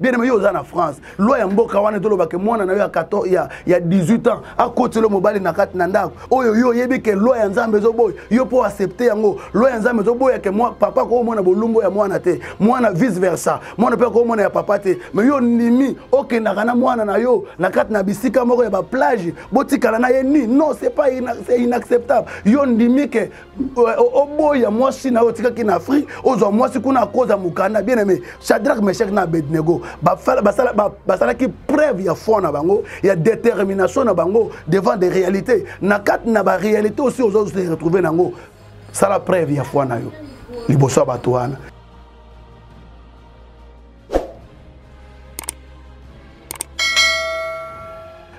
bien aimé yo oza na france loi ya mboka wana tolobake mwana na yo ya 14 ya, ya 18 ans akotelo mobali na kati na ndako oyo yo oyebi ke loi ya nzambe ezoboya yo mpo accepte yango loi ya nzambe ezoboya ke mwa, papa akoomona bolumbu ya mwana te mwana vice versa mwana mpe akoomona ya papa te me yo ndimi okendaka na mwana na yo na kati na bisika moko ya baplage botikala na ye nini non c'est pas c'est inacceptable yo ndimi ke oboya mwasi na yo otikaki na afrique ozwa mwasi kuna akoza mokanda bien aimé shadrack meshak na abednego basalaki preuve ya foi na bango ya détermination na bango devant des réalités na kati na baréalité osi ozo se retrouve na yango sala preuve ya foi na yo liboso ya bato wana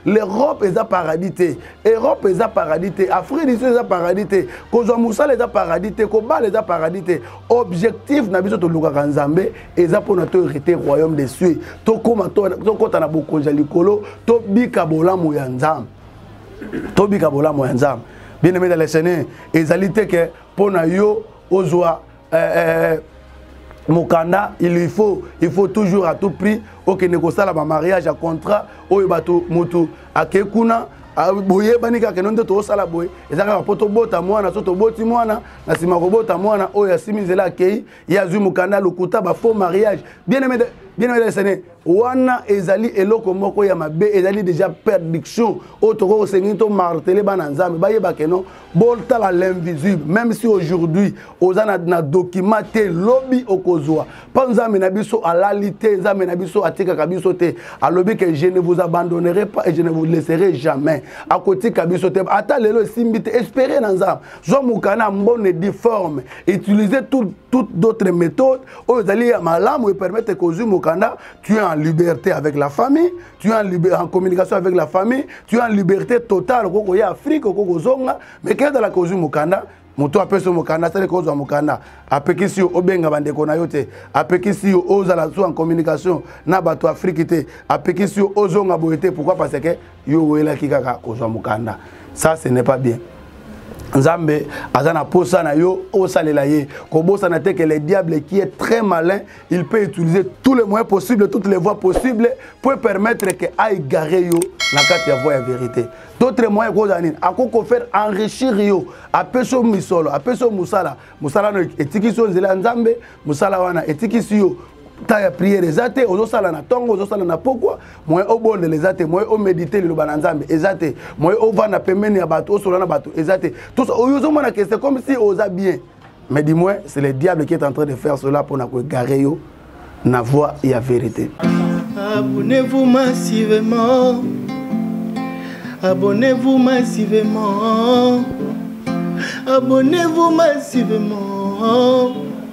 l'europe eza paradis te europe eza paradis te afrique du sud eza paradis te kozwa mosala eza paradis te kobala eza paradis te objectif na biso tolukaka nzambe eza mpona to hérité royaume de cieux tokóma tokɔta na bokonzi ya likolo tobika bolamu ya nzambe tobika bolamu ya nzambe bien aimé dans le seigneur ezali te ke mpo na yo ozwa eh, eh, mokanda il faut il faut toujours à tout prix okende kosala bamariage ya contrat oyo bato motu akei kuna Ah, boyebani kaka eno nde tokosala boye eza kaka mpo tobota mwana so toboti mwana na nsima kobota mwana oyo asimi nzela akei ye azwi mokanda lokuta bafaux mariage bien aimé de, bien aimé de wana ezali eloko moko ya mabe ezali deja perdiction oyo tokoki kosengeli to martele bana nzambe bayeba keno botala l'invisible même si aujourd'hui oza na, na document te lobi okozwa mpo nzambe na biso alali te nzambe na biso atikaka biso te alobi ke je ne vous abandonnerai pas et je ne vous laisserai jamais akotika biso te ata lelo esimbi te espere na nzambe zwa mokana mbone difforme utiliser tout, tout d'autres méthodes oyo ezali ya malamu epermettre que ozwi mokanda tu es en liberté avec la famille tu es en, liber... en communication avec la famille tu es en liberté totale okoki koya afrique okoki kozonga mais ke ezalaka ozwi mokanda moto apesi yo mokanda asali kozwa mokanda apekisi yo obenga bandeko na yo te apekisi yo ozala su en communication na bato afriki te apekisi yo ozonga boye te pourkui parce ke yo owelaki kaka kozwa mokanda ça ce n'est pas bien nzambe aza na posa na yo osalela ye kobosana te que le diable qui est très malin il peut utiliser tous les moyens possibles toutes les voies possibles pour permettre que aigare yo na kati ya voie ya vérité d'autres moyens ekozala nini akoki kofaire enrichir yo apesi yo misolo apesi yo mosala mosala no etikisi yo nzela ya nzambe mosala wana etikisi yo temps ya prière eza te ozosala na ntongo ozosala na pokwa moye obondela eza te moye omedite liloba na nzambe eza te moye ovanda pembeni ya bato osola na bato eza te tosa oyo ozomona ke c'est comme si oza bien mais du moins c'est le diable qui est en train de faire cela mpo na koegare yo na voie ya vérité abonnez-vous massivement abonnez-vous massivement abonnez-vous massivement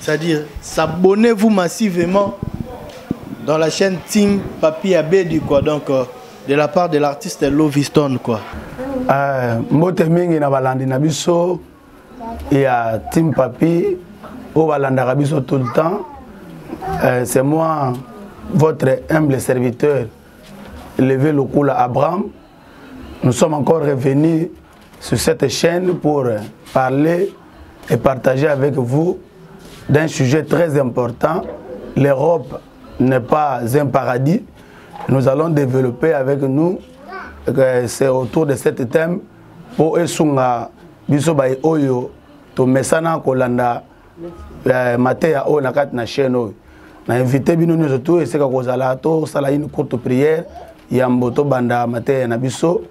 c'est-à-dire s'abonnez-vous massivement dans la chaîne Team Papi Abedi quoi donc euh, de la part de l'artiste Loviston quoi euh, mbote mingi na balandi na biso ya Team Papi oyo balandaka biso tout le temps euh, c'est moi votre humble serviteur levé lokola Abraham nous sommes encore revenus sur cette chaîne pour parler et partager avec vous d'un sujet très important. L'Europe n'est pas un paradis. Nous allons développer avec nous, euh, c'est autour de cet thème, pour esunga biso bai oyo to mesana kolanda euh, mateya oyo na kati na chaîne oyo na invité bino nyonso tu eseka kozala tosala une courte prière yambo tobanda mateya na biso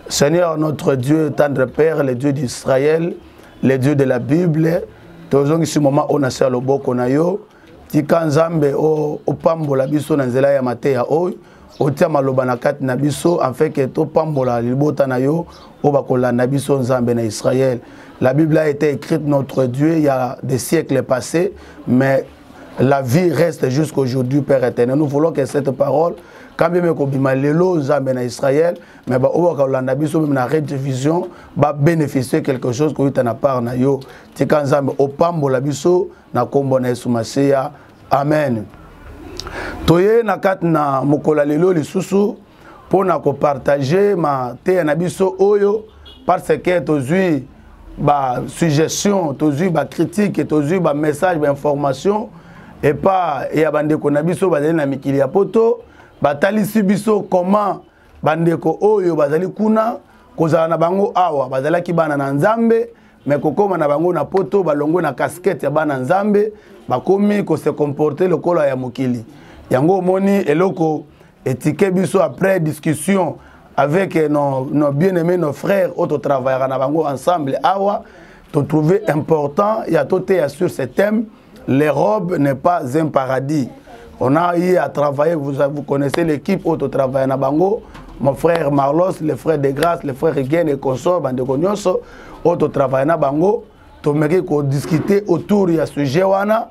Seigneur notre Dieu, tendre Père, le Dieu d'Israël, le Dieu de la Bible, tozongisi mama oyo na se ya loboko na yo tika nzambe opambola biso na nzela ya mateya oyo otia maloba na kati na biso afin ke topambola libota na yo oyo bakolanda biso nzambe na israel la bible a été écrite notre dieu ya des siècles passé mais La vie reste jusqu'aujourd'hui, Père éternel. Nous voulons que cette parole, quand même kobima lelo nzambe na Israël, mais ba oyo bakolanda biso même na Red Vision, ba bénéficier quelque chose ko yita na part na yo. Tika nzambe opambola biso na kombo na Yesu Masiya. Amen. Toye na kati na mokola lelo lisusu mpo na kopartage mateya na biso oyo parce que tozwi basuggestion tozwi bacritique tozwi bamessage bainformation epa ya bandeko na biso bazali na mikili ya poto batalisi biso comment bandeko oyo bazali kuna kozala na bango awa bazalaki bana na nzambe me kokóma na bango na poto balongwe na kaskete ya bana nzambe bakomi kose komporte lokola ya mokili yango omoni eloko etike biso après discussion avec eh, nos, nos bien aimé nos frères oyo totravaillaka na bango ensemble awa totrouve important ya toteya sur ce thème l'europe n'est pas un paradis on a eu à travailler vous, vous connaissez l'équipe oyo totravaille na bango mon frère marlos le frère de grâce le frère rigen et consort bandeko nyonso oyo totravaille na bango tomeki kodiscute autour ya sujet wana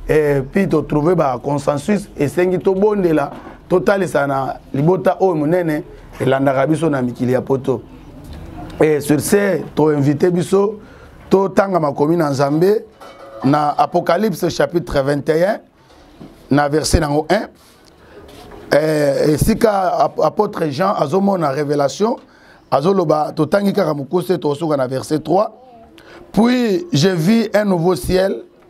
eh, puis totrouve baconsensus esengi tobondela totalisa na libota oyo monene elandaka biso na mikili ya poto e sur ce toinvite biso totanga makomi na nzambe na apocalypse chapitre 21 na verset nango 1 eh, esika apôtre jean azomona révélation azoloba totangi kaka mokuse tokosuka na verset 3 puis je vis un nouveau ciel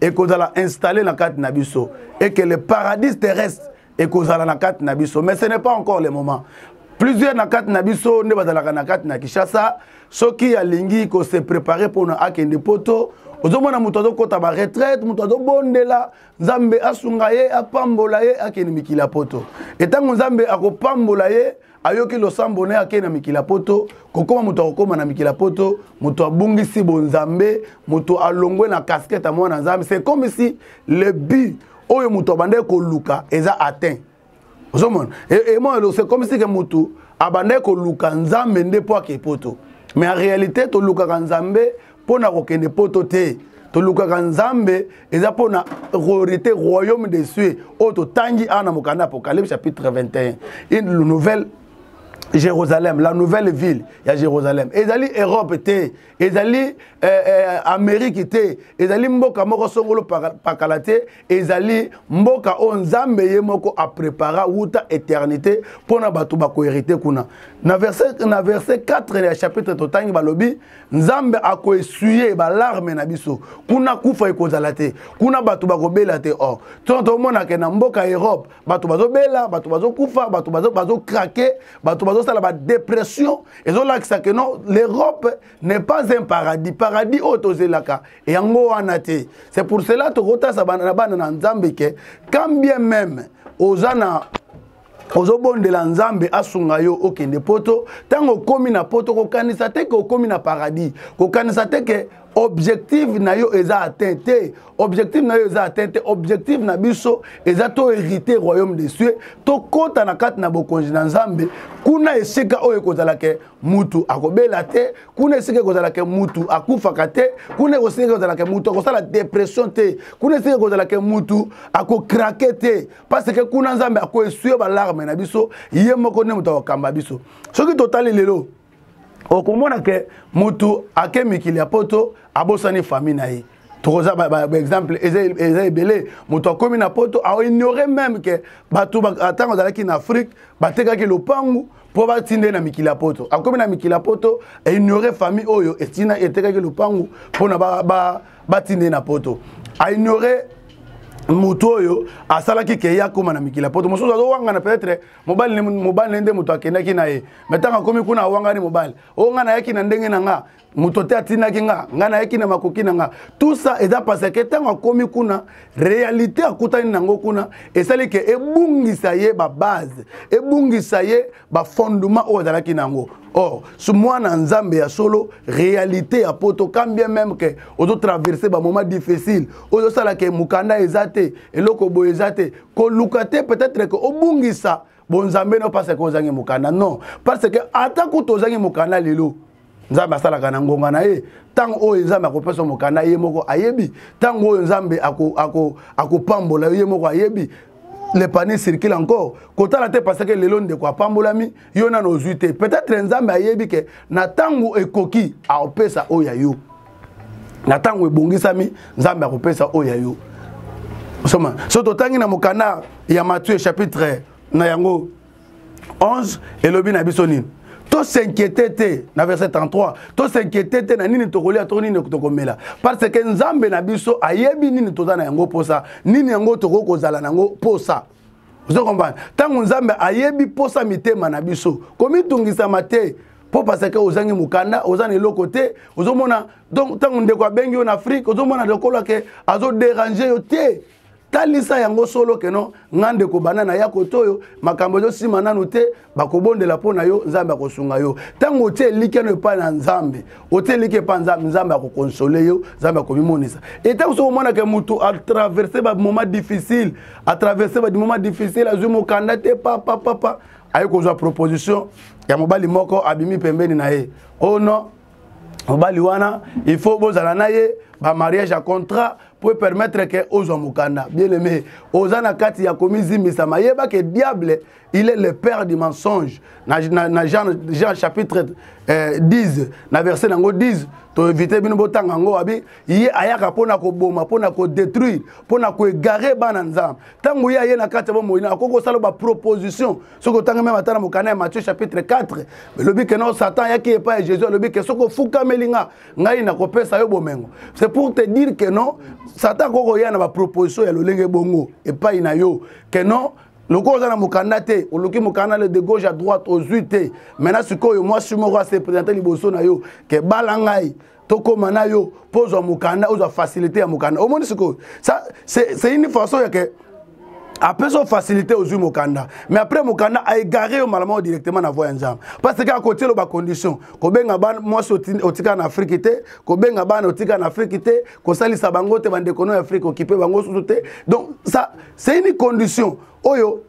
ekozala installe na kati na biso et que le paradis terrestre ekozala na kati na biso mais ce n'est pas encore le moment plusieurs na kati na biso nde bazalaka na kati na kinshasa soki alingi kose prépare mpona akende poto ozomona moto azokɔta baretraite moto azobondela nzambe asunga ye apambola ye akende mikili ya poto etango nzambe akopambola ye ayoki losambo na ye akei na mikili ya poto kokóma moto akokóma na mikili ya poto moto abungisi bonzambe moto alongwe na kaskete ya mwana nzambe c'est comme si le but oyo moto abandaki koluka eza atteint ozomona emona e, c'est comme si ke moto abandaki koluka nzambe nde mpo ake poto mais en réalité tolukaka nzambe mpo na kokende poto te tolukaka nzambe eza mpo na royauté royaume des cieux oyo totangi awa na mokanda apocalypse chapitre 21 une nouvelle Jérusalem, la nouvelle ville ya Jérusalem. Ezali Europe te, ezali eh, eh, Amérique te, ezali mboka moko songolo pakala te, ezali mboka oyo nzambe ye moko aprepara wuta eternité mpo na bato bakoherite kuna na verset, na verset 4 ya chapitre totangi balobi nzambe akoesuye balarme na biso kuna kufa ekozala te kuna bato bakobela te or ntongo tomonake na mboka europe bato bazobela bato bazokufa bato bazokrake bato bazosala badepression ezolakisa ke non l'europe n'est pas un paradis paradis oyo tozelaka yango wana te c'est pour cela tokotasa bana na bana na nzambe ke quand bien même oza na ozobondela nzambe asunga yo okende poto ntango okomi na poto kokanisa te ke okomi na paradis kokanisa te ke objectif na yo eza atteint te objectif na yo eza atteint te objectif na biso eza to hérité royaume des cieux tokɔta na kati na bokonzi na nzambe kuna esika oyo ekozala ke mutu akobela te kuna esika ekozalaka mutu akufaka te kuna esika ekozalaka mutu akosala depression te kuna esika ekozalaka mutu akokrake te parce que kuna nzambe akoesue balarme na biso ye moko nde moto akokamba biso soki totali lelo okomona ke mutu ake mikili ya poto abosani famille na ye tokoza baexemple eza ebele moto akomi na poto aoignore meme ke bato ntango azalaki na afrique batekaki lopangu mpo batinde na mikili ya poto akomi na mikili ya poto aignore famille oyo etina etekaki lopangu mpona batinde ba, ba, ba na poto aignore moto oyo asalaki ke ye akóma na mikili ya poto mosusu azowangana peut-être mobali mobali nde moto akendaki na ye mai ntango akomi kuna awangani mobali oyo ngai nayaki na ndenge na ngai moto te atindaki nga ngai nayaki na makoki na nga tout ça eza paseke ntango akomi kuna réalité akutani na yango kuna esali ke ebungisa ye babase ebungisa ye bafondement oyo azalaki na yango or so mwana nzambe ya solo réalité ya poto quand bien même ke ozotraverse bamoment difficile oyo osalaka mokanda eza te eloko boye eza te koluka te peut-être ke obungisa bonzambe no parce que ozangi mokanda non parce que ata kutu ozangi mokanda lelo nzambe asalaka na ngonga na ye ntango oyo nzambe akopesa mokanda ye moko ayebi ntango oyo nzambe akopambola yo ye moko ayebi le panier circule encore kotala te parce que lelo ndeko apambolami yo nano ozwi te peut-être nzambe ayebi ke na ntango ekoki aopesa oyo ya yo na ntango ebongisami nzambe akopesa oyo ya yo osoma so totangi na mokanda ya mathieu chapitre na yango 11 elobi na biso nini tosinquiete te na verset 33 tosinquiete te na nini tokolia to nini tokomela parce que nzambe na biso ayebi nini toza na yango mposa nini yango tokoki kozala na yango mposa ozo comprendre ntango nzambe ayebi mposa mitema na biso komitungisama te mpo paseke ozangi mokanda oza na eloko te ozomona donc ntango ndeko abengi yo na afrike ozomona lokola ke azoderange yo te talisa yango solo keno nga ndeko bana na ya koto oyo makambo ezosima nanu te bakobondela mpo na yo nzambe akosunga yo ntango otie elikya no epai na nzambe otie elikya epai nzambe nzambe akokonsole yo nzambe akomimonisa e ntango soki omonaka motu atraverse bamoment difficile atraverse bamoment difficile azwi mokanda te papa papa aye kozwa proposition ya mobali moko abimi pembeni na ye o oh non mobali wana il faut bozala na ye bamariage ya contrat mpo epermettre ke ozwa mokanda bien aime oza na kati ya komizimbisama yeba ke diable il est le père du mensonge na, na, na jean, jean chapitre eh, 10 na verset nango 10 toevite bino botanga yango abi ye ayaka mpo na koboma mpo na kodétruire mpo na koegare bana nzambe ntango ye aye na kati ya bomoi na akoki kosala baproposition soki otangi meme ata na mokanda ya matthieu chapitre 4 elobi ke no satan ayaki epai ya jésus alobi ke soki ofukameli nga ngai nakopesa yo bomengo c'est pour te dire ke no satan akoki koya na baproposition ya lolenge bongo epai na yo ke no lokola oza na mokanda te oluki mokanda le de gauche à droite ozwi te maintenant sikoyo mwasi moko ase présente liboso na yo ke bala ngai tokóma na yo mpo ozwa mokanda ozwa facilité ya mokanda omoni sikoyo c'est une façon ya ke apesa yo facilité ozwi mokanda mais après mokanda aegare yo malamao directement na voi ya nzambe parce que akotielo bacondition kobenga mwasi otika na afrike te kobenga bana otika na afrike te kosalisa bango te bandeko no ya afrique okipe bango susu te donc ça c'est une condition oyo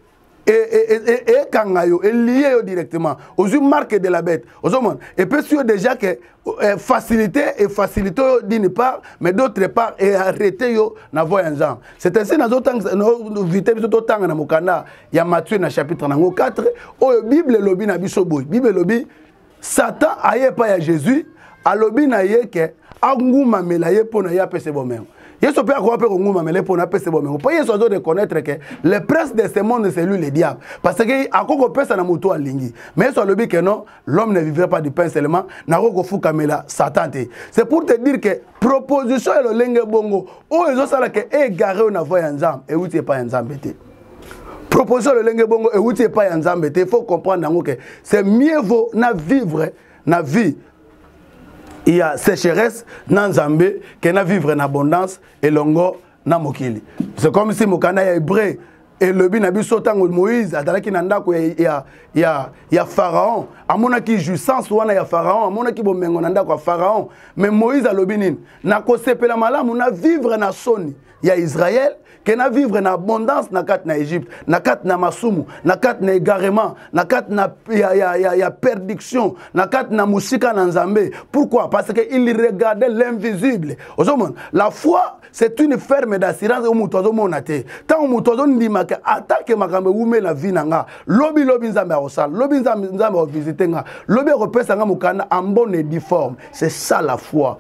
ekanga yo elie yo directement ozwi marque de la bête ozomona epesi yo déjà ke eh, facilité efacilité yo d'une part mais d'autre part earrete yo na voi ya nzambe c'est ainsi nazovite biso totanga na mokanda ya matthieu na chapitre nango 4 oyo bible elobi na biso boye bible elobi satan aye epai ya jésus alobi na ye ke angumamela ye mpo na ye apesa bomengo yesu mpe akoka mpe kongumamela ye mpo na apesa bomengo mpo yesu azo reconnaître ke le prince de ce monde c'est lui le diable parce que akoki kopesa na moto alingi mais yesu alobi ke non l'homme ne vivrait pas du pain seulement nakoki kofukamela satan te c'est pour te dire ke proposition ya lolenge bongo oyo ezosala ke egare oyo na voi ya nzambe euti epai ya nzambe te proposition lolenge bongo euti epai ya nzambe te faut comprendre yango ke c'est mieux vaut na vivre na vie ya sécheresse na nzambe ke na vivre na abondance elongo na mokili c'est comme si mokanda ya hébreu elobi na biso ntango moïse azalaki na ndako ya, ya, ya, ya pharaon amonaki jouissance wana ya pharaon amonaki bomengo na ndako ya pharaon mais moïse alobi nini nakosepela malamu na vivre na soni ya Israël que na vivre na abondance na kati na Egypte na kati na masumu na kati na égarement na kati na ya, ya, ya, ya perdiction na kati na musika na Nzambe pourquoi parce que il regardait l'invisible ozomona la foi c'est une ferme d'assurance oyo moto azomona te ntango moto azondimaka atake makambo ewumela vi na nga lobi lobi nzambe akosala lobi nzambe akovisite nga lobi akopesa nga mokanda en bonne et due forme c'est ça la foi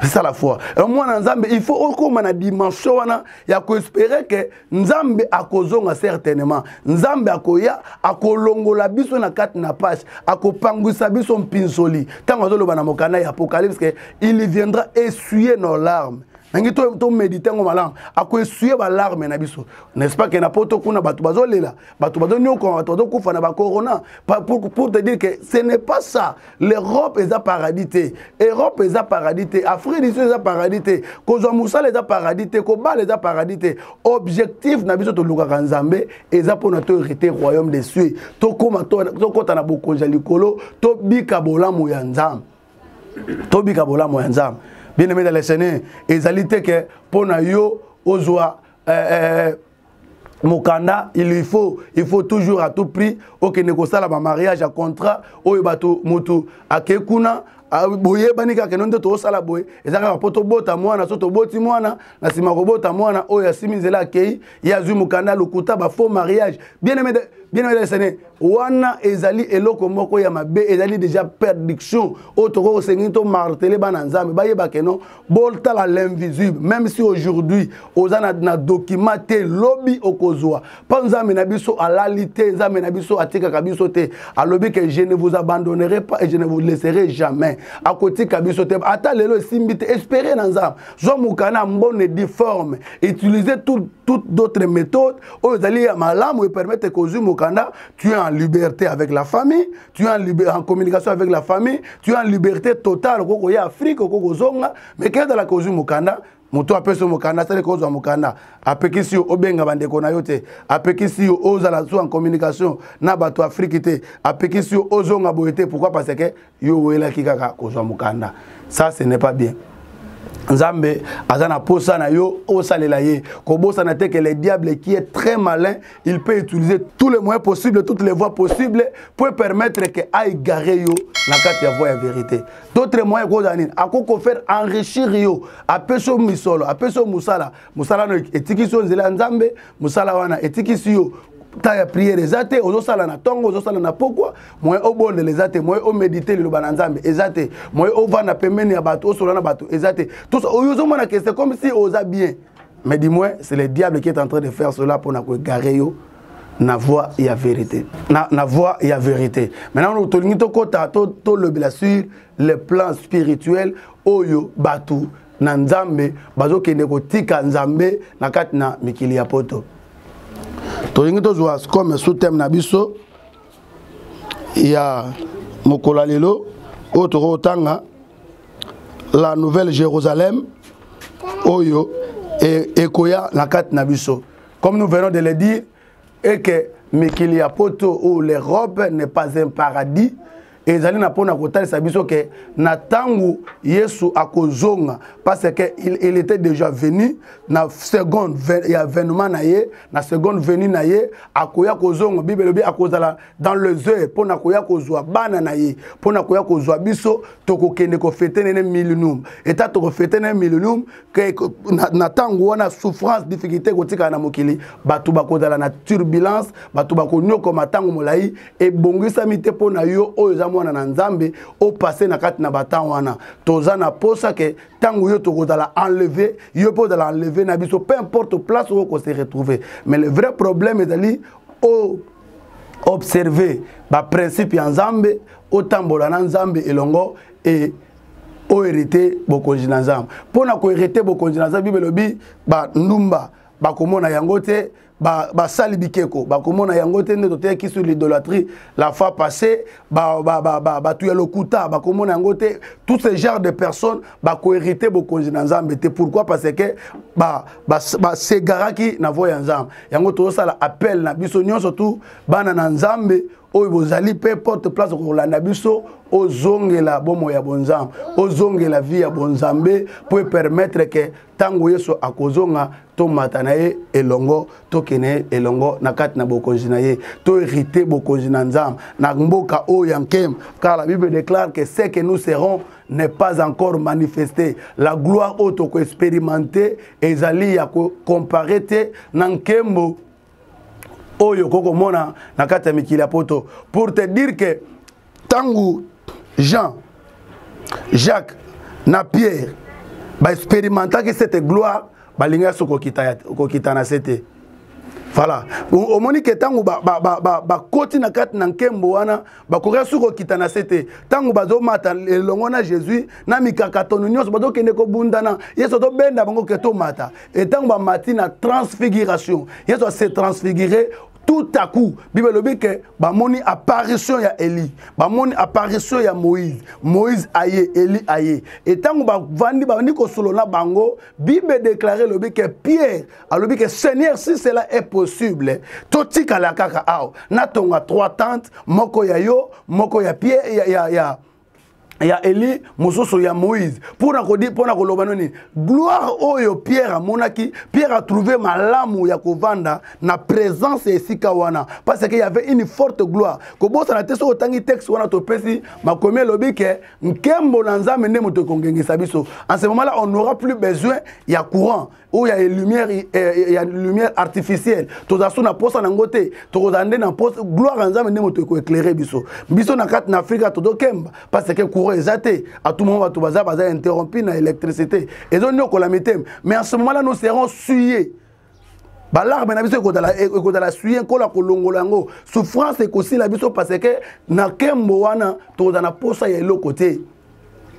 c'est ça la foi alors mwana nzambe il faut okoma na dimension wana ya koespere ke nzambe akozonga certainement nzambe akoya akolongola biso na kati na pashe akopangwisa biso mpinsoli ntango azoloba na mokanda ya apocalypse ke il viendra essuyer nos larmes nangi tomédite yango malamu akoessuye balarme na biso n'est-ce pas ke na poto kuna bato bazolela bato bazoniokwama bato bazokufa na bacorona pour te dire que ce n'est pas ça l'europe eza paradis te europe eza paradis te afrique du sud eza paradis te kozwa mosala eza paradis te kobala eza paradis te objectif na biso tolukaka nzambe eza mpona to hérité royaume de cieux tokóma tokɔta na bokonzi ya likolo tobika bolamu ya nzambe tobika bolamu ya nzambe bien aimé de la seigneur ezali te ke mpo na yo ozwa eh, eh, mokanda il lui faut il faut toujours à tout prix okende kosala bamariage ya contrat oyo bato motu ake kuna Ah, boyebani kaka keno nde tokosala boye eza kaka mpo tobota mwana so toboti mwana na nsima kobota mwana oyo asimi nzela akei ye azwi mokanda lokuta bafaux mariage bien aime bien aime desene wana ezali eloko moko ya mabe ezali deja perdiction oyo tokoki kosengeli to martele bana nzambe bayeba keno botala l'invisible même si aujourd'hui oza na, na document te lobi okozwa mpo nzambe na biso alali te nzambe na biso atikaka biso te alobi ke je ne vous abandonnerai pas et je ne vous laisserai jamais akotika biso te ata lelo esimbi te espere na nzambe zwa mokana mbone difforme utiliser tout, tout d'autres méthodes oyo ezali ya malamu epermettre kozwi mokanda tu es en liberté avec la famille tu es en, liber... en communication avec la famille tu es en liberté totale okoki koya afrique okoki kozonga mais ke ezalaka ozwi mokanda moto apesi yo mokanda asali kozwa mokanda apekisi yo obenga bandeko na yo te apekisi yo ozala su en communication na bato afriki te apekisi yo ozonga boye te pourkui parce que yo owelaki kaka kozwa mokanda ça ce n'est pas bien nzambe aza na posa na yo osalela ye kobosana te que le diable qui est très malin il peut utiliser tous les moyens possibles toutes les voies possibles pour permettre que aigare yo na kati ya voie ya vérité d'autres moyens ekozala nini akoki kofaire enrichir yo apesi yo misolo apesi yo mosala mosala no etikisi yo nzela ya nzambe mosala wana etikisi yo temps ya prière eza te ozosala na ntongo ozosala na pokwa moye obondela eza te moye omedite liloba na nzambe eza te moye ovanda pembeni ya bato osola na bato eza te tosa oyo ozomona ke c'est comme si oza bien mais du moins c'est le diable qui est en train de faire cela mpo na koegare yo na voie ya vérité na, na voie ya vérité maintenant tolingi tokɔta tolobela to sur le plan spirituel oyo bato na nzambe bazokende kotika nzambe na kati na mikili ya poto tolingi tozwa comme sous thème na biso ya mokolo ya lelo oyo tokoki kotanga la nouvelle jérusalem oyo e, ekoya na kati na biso comme nous venons de le dire et que mikili ya poto ou l'europe n'est pas un paradis ezali na mpo na kotalisa biso ke na ntango yesu akozonga parce que il, il était déjà venu na seconde ya avènement na ye na seconde venu na ye akoya kozonga bible elobi akozala dans les heures mpo na koya kozwa bana na ye mpo na koya kozwa biso tokokende kofete nene millennium eta tokofete nene millennium na ntango wana souffrance difficulté ekotikala na mokili bato bakozala na turbulence bato bakonyokoma ntango molai ebongisami te mpo na yo oyo eza mwana na nzambe opase na kati na batemp wana toza na mposa ke ntango yo tokozala enleve yo mpe ozala enleve na biso peu importe place oyo kose retrouver mais le vrai problème ezali o observer baprincipe ya nzambe otambola na nzambe elongo e oherite bokonzi na nzambe mpo na koherite bokonzi na nzambe bibele obi bandumba bakomona yango te basali ba bikeko bakomona yango te nde toteyaki sur l'idolatrie la fois passé bato ba, ba, ba, ba, ya lokuta bakomona yango te tout ce genre de personnes bakoherite bokonzi na nzambe te pourquoi parce que basegaraki ba, ba na voi ya nzambe yango tozosala appel na biso nyonso tu bana na nzambe oyo bozali mpe porte place kolanda biso ozongela bomo ya bonzambe ozongela vie ya bonzambe mpo epermettre ke ntango yesu akozonga tomata na ye elongo tokende ye elongo na kati na bokonzi na ye toherite bokonzi na nzambe na mboka oyo ya nkemba car la bible déclare que ce que nous serons n'est pas encore manifesté la gloire oyo tokoexperimente ezali ya kocompare te na nkembo oyo okoki komona na kati ya mikili ya poto pour te dire que ntango jean jacques na pierre baexperimentaki cette gloire balingaki so kokitana se te voilà omoni ke ntango bakoti ba, ba, ba, na kati na nkembo wana bakoki suki kokita na se te ntango bazomata elongo na jésus na mikakatono nyonso bazokende kobundana yesu azobenda bango ke tomata e ntango bamati na transfiguration yesu ase transfigure tout à coup bible elobi ke bamoni apparition ya eli bamoni apparition ya moïse moïse aye eli aye e ntango bavandi babandi kosolola na bango bible edeklare elobi ke pierre alobi ke seigneur si cela est possible totikala kaka awa natonga trois tente moko ya yo moko ya pie ya, ya, ya ya eli mosusu ya moïse mpona kodi mpona koloba no nini gloire oyo pierre amonaki pierre atrouve malamu ya kovanda na présence ya esika wana parce que yavait une forte gloire kobosana te soki otangi texte wana topesi makomi elobi ke nkembo na nzambe nde moto ekongengisa biso en ce moment là on n'aura plus besoin ya courant oyo ya lumière eh, eh, ya lumière artificielle tozala so na posa nango te tokozala nde na posa gloire ya nzambe nde moto ekoeclaire biso biso na kati na afrika tozokemba parce que courant eza te à tout moment bato baza baza interrompu na électricité ezoniokola mitema mais en ce moment là nous serons suyés balarme na biso ekozala suye nkola kolongola yango souffrance ekosila biso parce que na kembo wana tozala na posa ya eloko te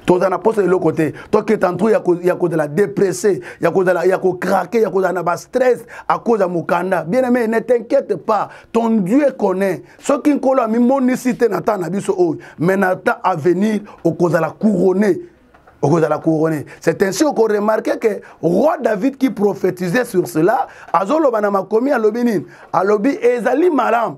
tozala na mposa eloko te toketa ntu ya kozala depresse ya kozala ya kokrake ya kozala na bastress akoza mokanda bien aime ne t'inquiète pas ton dieu connaît soki nkolo amimonisi te na ntango na biso oyo mais na temps avenir okozala couronne okozala couronne c'est ainsi okoremarke ke roi david qui prophétisait sur cela azoloba na makomi alobi nini alobi ezali malamu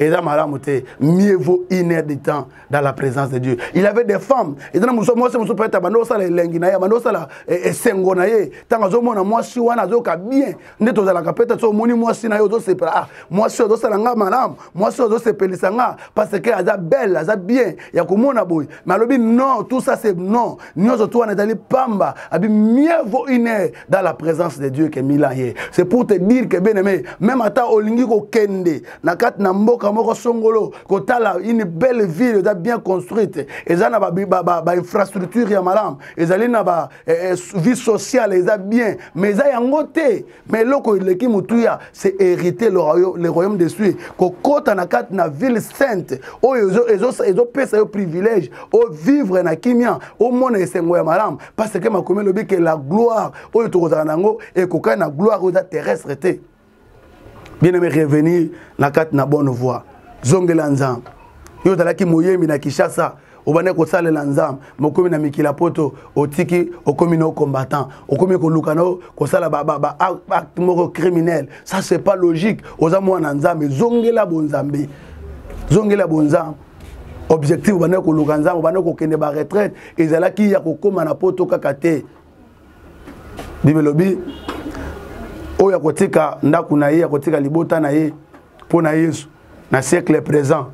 eza malamu te mieux vaut une heure de temps dans la présence de dieu il avait des femmes eza na mwasi mosusu peut-être abanda kosala elengi na ye abanda kosala eh, esengo na ye ntango azomona mwasi wana azoyoka bien nde tozalaka peut-être so omoni mwasi na ye ozosepela ah mwasi oyo azosala nga malamu mwasi oyo azosepelisa nga parce que aza belle aza bien ya komona boye mais alobi non tout ça c'est non nyonso tu wana ezali pamba abi mieux vaut une heure dans la présence de dieu que mille ans ye c'est pour te dire que bien aimé même ata olingi kokende na kati na mboka moko songolo kotala une belle ville eza bien construite eza na bainfrastructure ba, ba, ba ya malamu ezali na ba, eh, eh vie sociale eza bien mais eza yango te mais eloko eleki motuya c'est hériter le royaume, le royaume de sui kokota na kati na ville sainte oyo ezopesa yo privilège ovivre na kimia omona esengo ya malamu parce que makomi elobi ke la gloire oyo tokozala na yango ekokani na gloire oyo eza terrestre te bien aimé revenir na kati na bonne voie zongela nzambe yo ozalaki moyembi na kinshasa obandaki kosalela nzambe mokomi na mikila poto otiki okomi na combattant okomi koluka na kosala baacte moko criminel ça c'est pas logique oza mwana nzambe zongela bonzambe zongela bonzambe objectif obandaki koluka nzambe obandaki kokende baretraite ezalaki ya kokóma na poto kaka te bible elobi oyo akotika ndako na ye akotika libota na ye mpo na yesu na siècle présent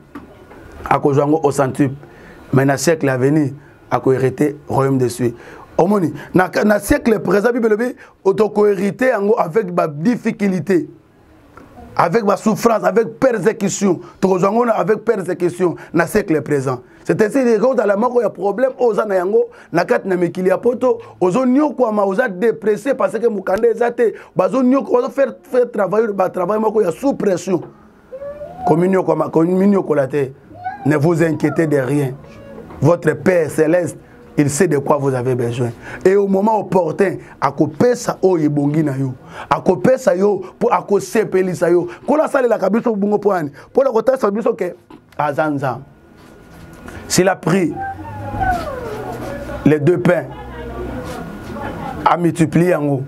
akozwa yango au centuple mais na siècle à venir akoherite royaume de suit omoni na, na siècle présent bible elobi tokoherite yango avec badifficulté avec ma souffrance, avec persécution. Tokozango avec persécution na siècle présent. C'est ainsi que quand la mort ya problème aux na yango na kat na mikili ya poto ozo nyokwa ma oza dépressé parce que mukanda ezate bazo nyokwa ozo faire faire travailler ba travail moko ya sous pression. Communion comme communion colate. Ne vous inquiétez de rien. Votre Père céleste il sait de quoi vous avez besoin et au moment opportun akopesa oyo ebongi na yo akopesa yo mpo akosepelisa yo nkolo asalelaka biso bongo mpo ani mpo na kotalisa biso ke aza nzambe s'il a pris les deux pains amultiplie yango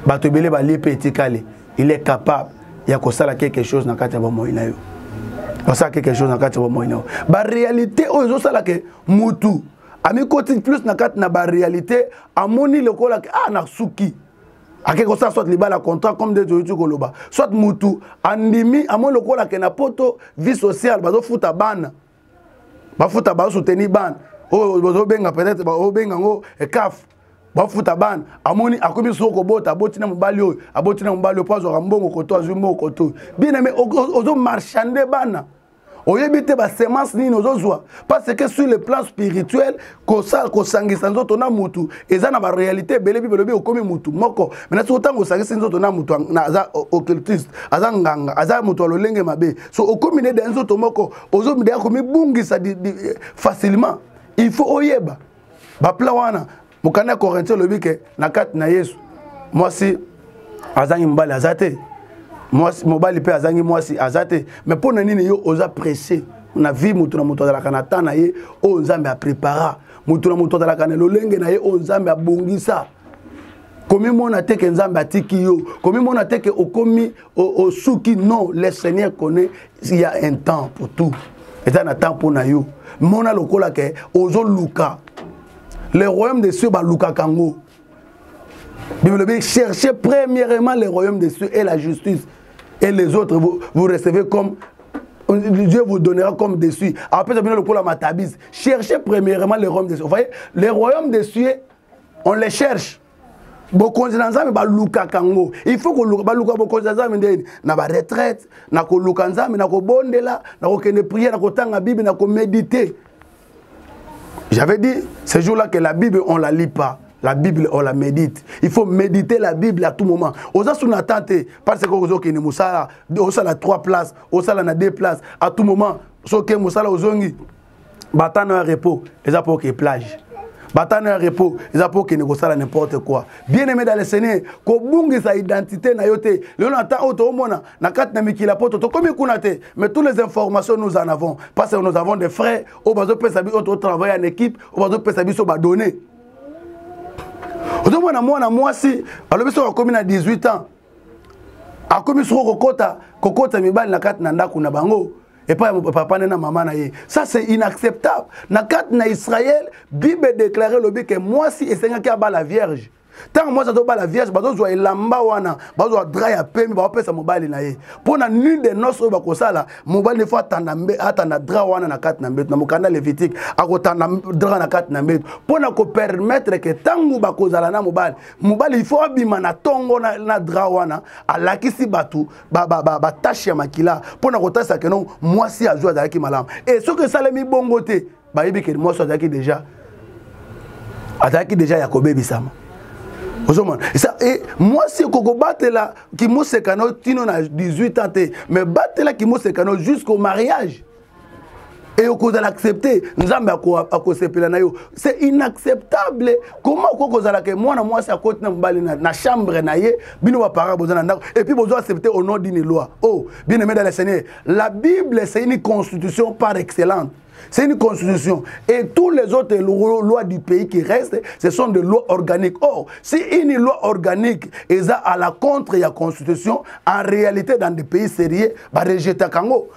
bato ebele balie mpe etikali il est capable ya kosala quelque chose na kati ya bomoi na yo basala quelque chose na kati ya bomoi na yo baréalité oyo ezosala ke mutu amikoti plus na kati na baréalité amoni lokola ke ah nasuki ake kosala soit libala contrat comme nde toyoti koloba soit mutu andimi amoni lokola ke na poto vie sociale bazofuta bana bafuta basuteni bana oyo bazobenga peut-être baobenga yango ekafu eh, bafuta bana amoni akomi soko kobota aboti na mobali oyo aboti na mobali oyo mpo azwaka mbongo koto azwi mbongo koto oyo bien aime ozomarchande bana oyebi te basemence nini ozozwa parce que sur le plan spirituel kosala kosangisa nzoto na mutu eza na baréalité ebele bible elobi okomi mutu moko mena soki ntango osangisi nzoto na mutu aza occultiste aza nganga aza moto ya lolenge mabe so okomi nede ya nzoto moko ozomidaya komibungisa eh, facilement il faut oyeba baplan wana mokanda ya corintien olobi ke na kati na yesu mwasi azangi mobali aza te mobali mpe azangi mwasi aza te mais mpo na nini yo oza presse na vie moto na moto azalaka na temps na ye oyo nzambe aprepara moto na moto azalaka na lolenge na ye oyo nzambe abongisa komimona te ke nzambe atiki yo komimona te ke okomi osuki non le seigneur connaît il y a un temps pour tout eza na temps mpo na yo mona lokola ke ozoluka le royaume de cieux balukaka yango bible elobi cherchez premièrement le royaume de cieux et la justice et les autres vous, vous recevez comme Dieu vous donnera comme des cieux. Après, ça vient le coup la matabise. Cherchez premièrement le royaume des cieux. Vous voyez, le royaume des cieux on les cherche bokonzi na nzambe balukaka yango il faut koluka baluka bokonzi na nzambe ndeni na baretraite na koluka nzambe na kobondela na kokende priere na kotanga bible na komédite j'avais dit ce jour là que la bible on la lit pas la bible on la médite il faut méditer la bible à tout moment oza sous na temps te parce que ozokende mosala osala 3 places osala na 2 places à tout moment soki mosala ozongi batano ya repos eza mpo oke plage batano ya repos eza mpo okende kosala n'importe quoi bien aimé dans le seigneur kobungisa identité na yo te lelo na temps oyo toomona na kati na mikili ya poto tokomi kuna te mais toutes les informations nous en avons parce que nous avons des frais oyo bazopesa biso oyo totravaille en équipe oyo bazopesa biso badonnées ozomona mwana mwasi alobi soki akomi na 18 ans akomi soko kokota kokota mibali na kati na ndako na bango epai ya papa ne na mama na ye ça c'est inacceptable na kati na israel bible edeklare elobi ke mwasi esengaki abala vierge ntango mwasi azobala vierge bazozwa elamba wana bazozwa dra ya pembe baopesa mobali na ye mpo na nul de nos oyo bakosala mobali nefo atanda dra wana na kati na mbeto na mokanda levitike akotanda dra na kati na mbeto mpo na kopermetre ke ntango bakozala na mobali mobali ifo abima na ntongo na dra wana alakisi bato batache ya makila mpo na kotalisa keno mwasi azwi azalaki malamu e soki esalemi bongo te bayebi keni mwasi azalaki deja azalaki deja ya kobebisama ozomona esa e, mwasi ekoki kobatela kimosekano tino na 18 ans te mais batela kimosekano jusqu'au mariage et okozala accepte nzambe akosepela na yo c'est inacceptable comment okoki kozala ke mwana mwasi akoti na mobali na chambre na ye bino baparent boza na ndako et puis bozo accepte au nom d'une loi oh bien aimé dans le seigneur la bible c'est une constitution par excellente C'est une constitution. Et toutes les autres lois du pays qui restent, ce sont des lois organiques. Or, si une loi organique est à la contre de la constitution, en réalité, dans des pays sérieux, bah, rejeta Kango.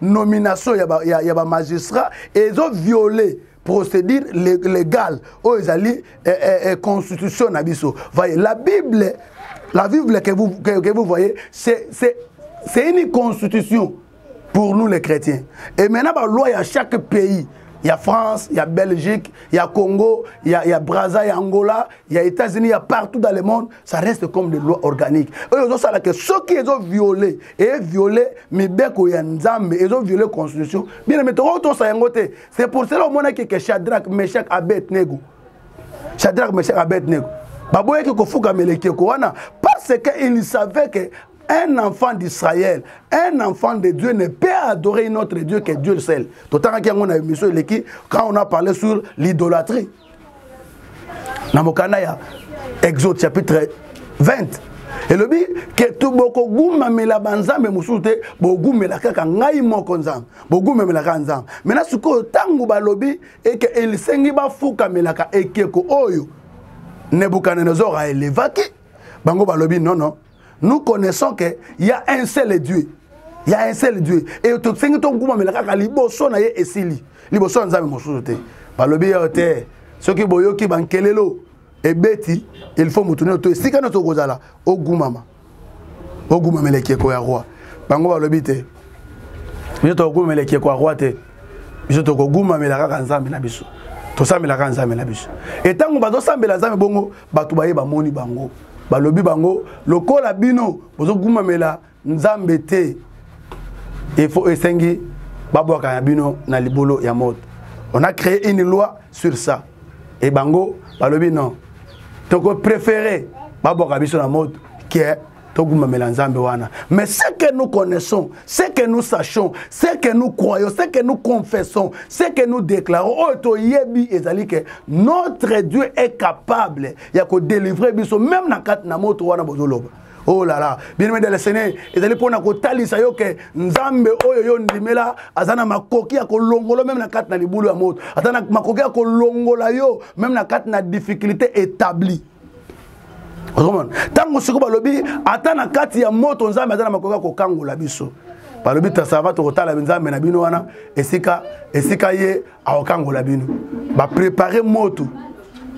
nomination ya ba, ya, ya ba magistrat ezo violer procédure légale oyo ezali eh, eh, eh, constitution na biso voyez la bible la bible que vous, que, que vous voyez c'est c'est une constitution pour nous les chrétiens et maintenant ba loi ya chaque pays il y a France, il y a Belgique, il y a Congo, il y a, y a Brazza, il y a Angola, il y a États-Unis, il y a partout dans le monde. ça reste comme des lois organiques oyo ezosala ke soki ezoviole eviole mibeko ya nzambe ezoviole constitution bien aime tokoki tosa yango te c'est pour cela omonaki ke shadrach meshak abed nego shadrach meshak abed nego baboyaki kofukamela ekeko wana parce que il savait que un enfant d'Israël, un enfant de Dieu ne peut adorer un autre Dieu que Dieu seul. Quand on a parlé sur l'idolâtrie, na mokanda ya exode chapitre 20 elobi ke tu bokogumamela banzambe mosusu te bogumela kaka ngai moko nzambe bogumamela kaka nzambe mena sikoyo ntango balobi eke elisengi bafukamelaka ekeko oyo nebukadenezor aelevaki bango balobi nono nous connaissons que y a un seul dieu y a un seul dieu e tosengi tokumamela kaka liboso na ye esili liboso ya nzambe mosusu te balobi yo te soki boyoki bankelelo ebeti il faut motu nino to esika nyonso okozala ogumama ogumamela ekeko ya roi bango balobi te biso tokumamela ekeko ya roi te biso tokogumamela kaka nzambe na biso tosambelaka nzambe na biso etango bazosambela nzambe bongo bato baye bamoni bango balobi bango lokola bino bozogumamela nzambe te efo esengi babwaka na bino na libolo ya moto on a créé une loi sur ça e bango balobi non tokopréféré babwaka biso na moto ke togumbamela nzambe wana mais ce que nous connaissons ce que nous sachons ce que nous croyons ce que nous confessons ce que nous déclarons oyo toyebi ezali ke notre dieu est capable ya kodélivre biso même na kati na moto wana bozoloba oh là là bien-aimé de le seigneur ezali mpo na kotalisa yo ke nzambe oyo yo ndimela aza na makoki ya kolongola meme na kati na libulu ya moto aza na makoki ya kolongola yo meme na kati na difficulté établie okomona ntango siko balobi ata na kati ya moto nzambe aza na makoki ya kokangola biso balobi tasava tokotala nzambe na bino wana esika esika ye akokangola bino baprepare moto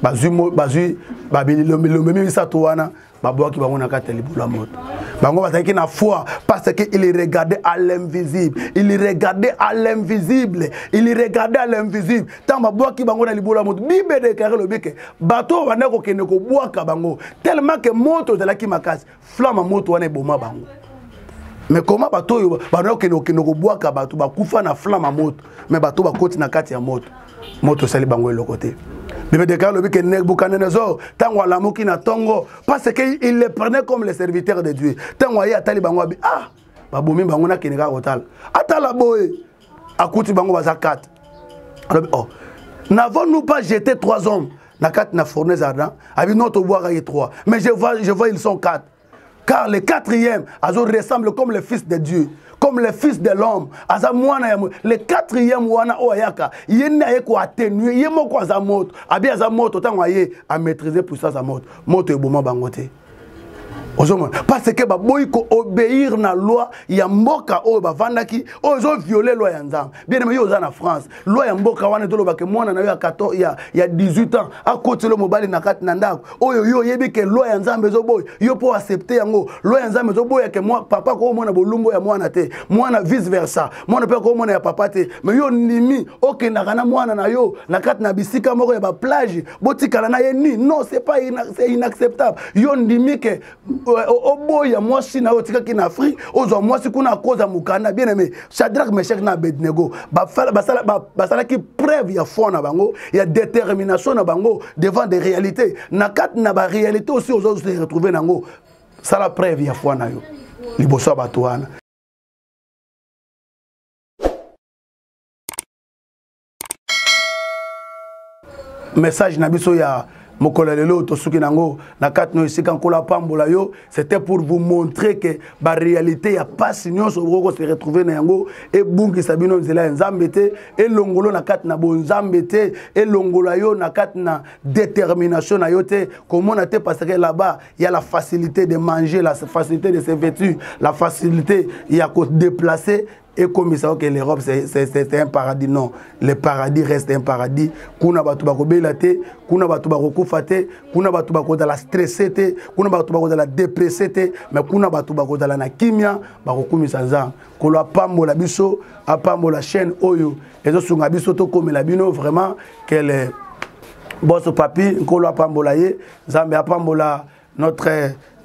bazwi bazwi babililombilombe misato wana babwaki bango na kati ya libulu ya moto bango bazalaki na foi parce que il regardait à l'invisible il regardait à l'invisible il regardait à l'invisible ntango babwaki bango na libolo ya moto bible edeklare lobi ke bato oyo banda kokende kobwaka bango tellement ke moto ezalaki makasi flama moto wana eboma bango mais koma bato oyo banda kokende kokende kobwaka bato bakufa na flama moto mais bato bakoti na kati ya moto moto esali bango eloko te bible edeklare lobi ke nebukadenezor ntango alamuki na ntongo parce ke il le prenait comme le serviteur de dieu ntango aye atali bango abi ah babomi bango nakende kaka kotala atala boye akuti bango baza 4 alobi oh n'avons nous pas jeté trois hommes na kati na fournaise ardent abi non tobwaka ye 3 mais je vois, je vois ils sont 4 car le quatrième azo ressemble comme le fils de dieu comme le fils de l'homme aza mwana ya le quatrième wana oyo ayaka ye nde aye koattenue ye moko aza moto abi aza moto ntango aye amaîtrise puissance ya moto moto eboma bango te ozomona parce que baboyi koobéir na loi ya mboka oyo bavandaki oyo ezoviole loi ya nzambe bieneme yo oza na france loi ya mboka wana etolobake mwana na yo ya, ya 18 ans akotelo mobali na kati na ndako oyo yo oyebi ke loi ya nzambe ezoboya yo mpo accepte yango loi ya nzambe ezoboya ke mwa, papa akomona bolumbu ya mwana te mwana vice versa mwana mpe akomona ya papa te me yo ondimi okendaka na mwana na yo na kati na bisika moko ya baplage botikala na ye nini non c'est pas c'est inacceptable yo ndimi ke euh, oboya mwasi na yo otikaki na afrique ozwa mwasi kuna akoza mokanda bien aimé shadrack meshak na abednego basalaki preuve ya foi na bango ya détermination na bango devant des réalités na kati na baréalité aussi ozo se retrouve na yango sala preuve ya foi na yo liboso ya bato wana message na biso ya mokolo ya lelo oyo tosuki na yango na kati na esika nkolo apambola yo c'était pour vous montrer que baréalité ya mpasi nyonso okoki kose retrouve na yango ebungisa bino nzela ya nzambe te elongolo na kati na bonzambe te elongola yo na kati na détermination na yo te komona te parce que là-bas ya la facilité de manger la facilité de se vêtir la facilité ya kodéplacer et comme ils savent que l'Europe c'est un paradis non le paradis reste un paradis kuna bato bakobela te kuna bato bakokufa te kuna bato bakozala stresse te kuna bato bakozala depresse te mais kuna bato bakozala na kimia bakokumisa nzambe kolo apambola biso apambola chaîne oyo ezosunga biso tokomela bino vraiment kele boso papi nkolo apambola ye nzambe apambola notre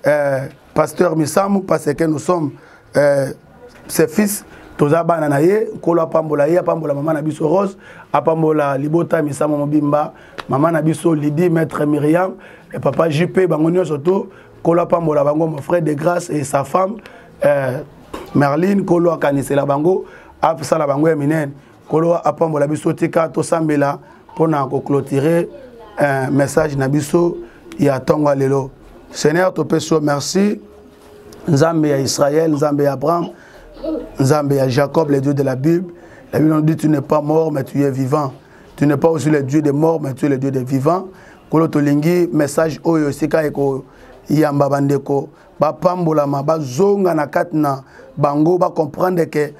euh, pasteur misamu parce que nous sommes euh, ses fils toza bana na ye nkolo apambola ye apambola mama na biso rose apambola libota misamu mobimba mama na biso lidi maître miriam et papa jp bango nyonso to nkolo apambola bango mon frère de grâce et sa femme euh, merline nkolo akanisela bango asala bango ya minene nkolo apambola biso tika tosambela mpo na koclotire eh, message na biso ya ntongo ya lelo seigneur topesi yo merci nzambe ya israel nzambe ya abraham nzambe ya jacob le dieu de la bible la bible nous dit tu n'es pas mort mais tu es vivant tu n'es pas aussi le dieu des morts mais tu es le dieu des vivants nkolo tolingi message oyo esika ekoyamba bandeko bapambolama bazonga na kati na bango bacomprendre ke ba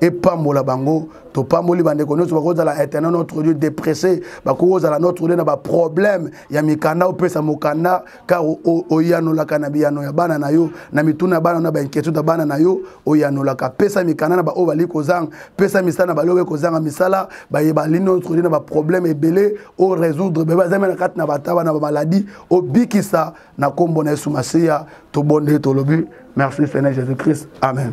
epambola bango topamboli bandeko nyonso bakozala internet notre lieu depresse bakozala notre lieu na baproblème ya mikanda opesa mokanda car oyanolaka na biyano ya bana na yo na mituna ya bana na bainquiétude ya bana na yo oyanolaka pesa mikanda na baoyo bali kozanga pesa misala na balobe kozanga misala baye bali notre lieu na baproblème ebele o résoudre bebe azami na kati na bataba na bamaladi obikisa na nkombo na yesu masiya tobondeli tolobi merci seigneur jésus christ amen